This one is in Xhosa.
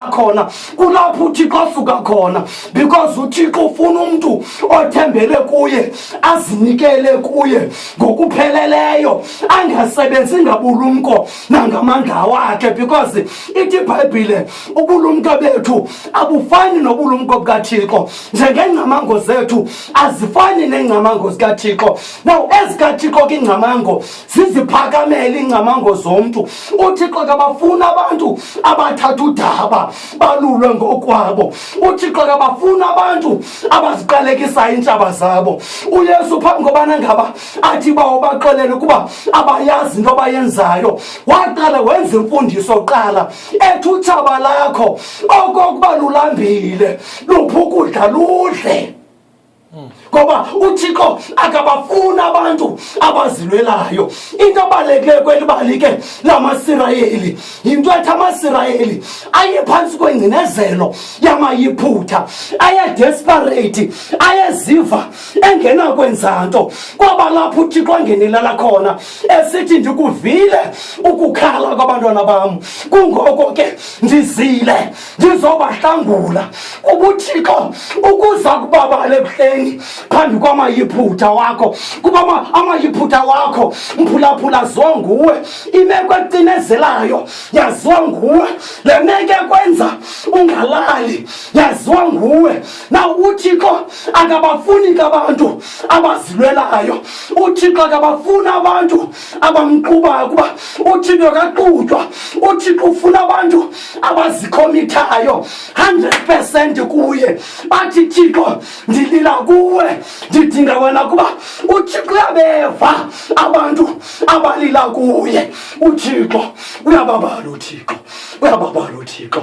khona kulapho uthixo asuka khona because uthixo ufuna umntu othembele kuye azinikele kuye ngokupheleleyo angasebenzi ngabulumko nangamandla wakhe because ithi ibhayibhile ubulumko bethu abufani nobulumko bukathixo njengengcamango zethu azifani nengcamango zikathixo now ezikathixo ke ingcamango ziziphakamele iingcamango zomntu uthixo akabafuni abantu abathatha udaba balulwe ngokwabo uthixo akabafuni abantu abaziqalekisayo iintshaba zabo uyesu phambi kobana ngaba athi bawo baxelele ukuba abayazi into abayenzayo waqala wenza imfundiso qala ethi utshaba lakho okokuba lulambile luphi ukudla ludle ngoba uthixo akabafuni abantu abazilwelayo into abalekile kweli bali ke lamasirayeli yinto ethi amasirayeli ayephantsi kwengcinezelo yamayiphutha ayedesperate ayeziva engenakwenza nto kwaba lapho uthixo angenelela khona esithi ndikuvile ukukhala kwabantwana bam kungoko ke ndizile ndizobahlangula ubuthixo ukuza kubabala ebuhleni phambi kwamayiphutha wakho kuba amayiphutha wakho mphulaphula zonguwe imeko ecinezelayo yaziwa nguwe le meko ekwenza ungalali yaziwa nguwe na uthixo akabafuni kabantu abazilwelayo uthixo akabafuni abantu abamqubayo kuba uthixo kaqutywa uthixo ufuna abantu abazikhomithayo 100 percent kuye bathi thixo ndilila kuwe ndidinga wena kuba uthixo uyabeva abantu abalila kuye uthixo uyababala uthixo uyababala uthixo